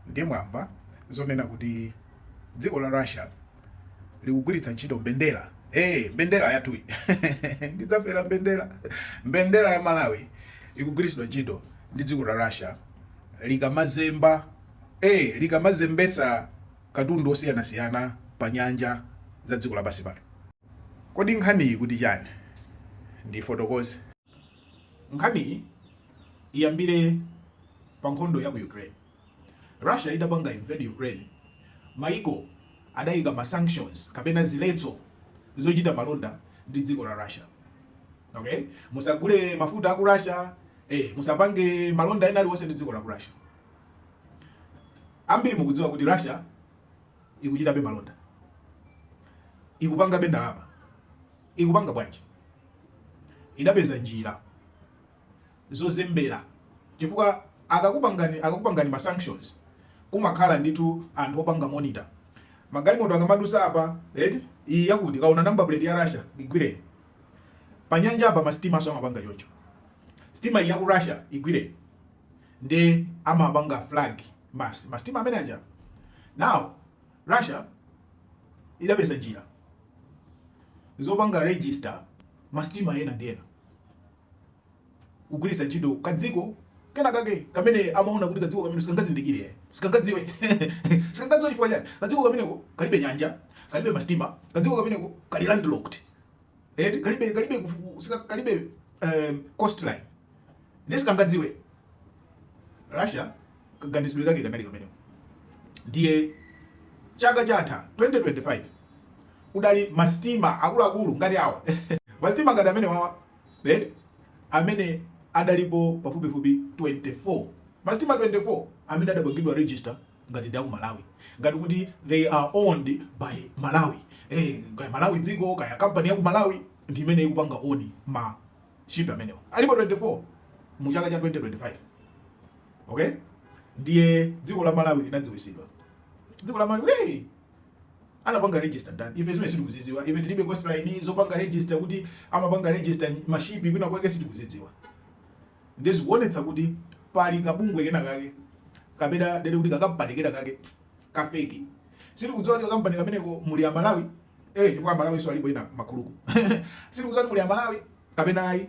Ndiye mwamva zonena kuti dziko la Russia likugwiritsa ntchito mbendera eh, mbendera yathuyi ndidzafera mbendera mbendera ya Malawi ikugwiritsidwa ntchito ndi dziko la Russia likamazemba eh, likamazembesa katundu osiyanasiyana pa nyanja za dziko lapansi pano. Kodi nkhaniyi kuti chani? Ndifotokoze. Nkhaniyi iyambire pa nkhondo ya ku Ukraine. Russia itapanga invade Ukraine, mayiko adaika ma sanctions kapena ziletso zochita malonda ndi dziko la Russia. Okay? Musagule mafuta a ku Russia, eh, musapange malonda ena aliwonse ndi dziko la ku Russia. Ambiri mukudziwa kuti Russia ikuchitabe malonda, ikupangabe ndalama. Ikupanga bwanji? Idapeza njira zozembera chifukwa akakupangani ma sanctions kumakhala ndithu anthu opanga monitor magalimoto akamadusa apa eti iyi yakuti akaona number plate ya Russia igwireni panyanja apa masitimaso amapanga choncho sitima iyi ya ku Russia igwireni nde amapanga flag mas masitima amene aja now Russia idapeza njira zopanga register masitima ena ndi ena kugwiritsa ntchito kadziko kena kake kamene amaona kuti kadziko kameneka sikangazindikire sikangadziwe sikangadziwe chifukwa chani kadziko kameneko kalibe nyanja kalibe masitima kadziko kameneko kali landlocked eh kalibe kalibe kalibe um, coastline nde sikangadziwe Russia kaganizidwe kake kanali kameneko ndiye chaka chatha 2025 kudali masitima akuluakulu ngati awa masitima ngati amene awawa eh? amene adalipo pafupifupi 24 masitima 24 amene adapangidwa register ngati ndi aku Malawi ngati kuti they are owned by Malawi eh, kaya Malawi dziko kaya kampani ya ku Malawi ndi imene ikupanga own ma ship amenewa alipo 24 mu chaka cha 2025 Okay? Ndiye dziko la Malawi linadziwisidwa. Dziko la Malawi hey! anapanga register ndani? Ife zimenezi sitikuzidziwa. Ife tilibe coastline zopanga register kuti amapanga register mashipi kwina kwake sitikuzidziwa. Ndiye zikuonetsa kuti pali kabungwe kena kake kapena ndinene kuti kakampani kena kake kafeki. Sitikudziwa kuti kakampani kameneko muli a Malawi eh, chifukwa a Malawiso alipo ena makuluku. Sitikudziwa kuti muli a Malawi kapena ayi.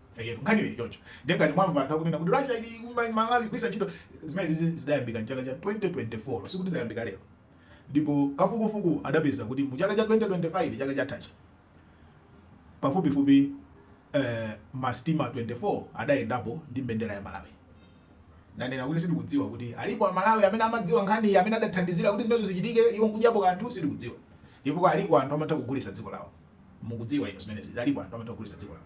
Eyetu nkhaniyo ili choncho. Ndiye ngati mwamva anthu akunena kuti Russia ili kuma- Malawi kugwiritsa ntchito zimenezi zidayambika mchaka cha 2024 sikuti zayambika lero. Ndipo kafukufuku adapeza kuti mu chaka cha 2025 chaka chathachi pafupifupi eh, masitima 24 adayendapo ndi mbendera ya Malawi. Nanena kuti sitikudziwa kuti alipo Amalawi amene amadziwa nkhaniyi amene adathandizira kuti zimenezo zichitike iwo nkudyapo kanthu sitikudziwa. Chifukwa aliko anthu amatha kugulitsa dziko lawo. Mukudziwa inu zimenezi alipo anthu amatha kugulitsa dziko lawo.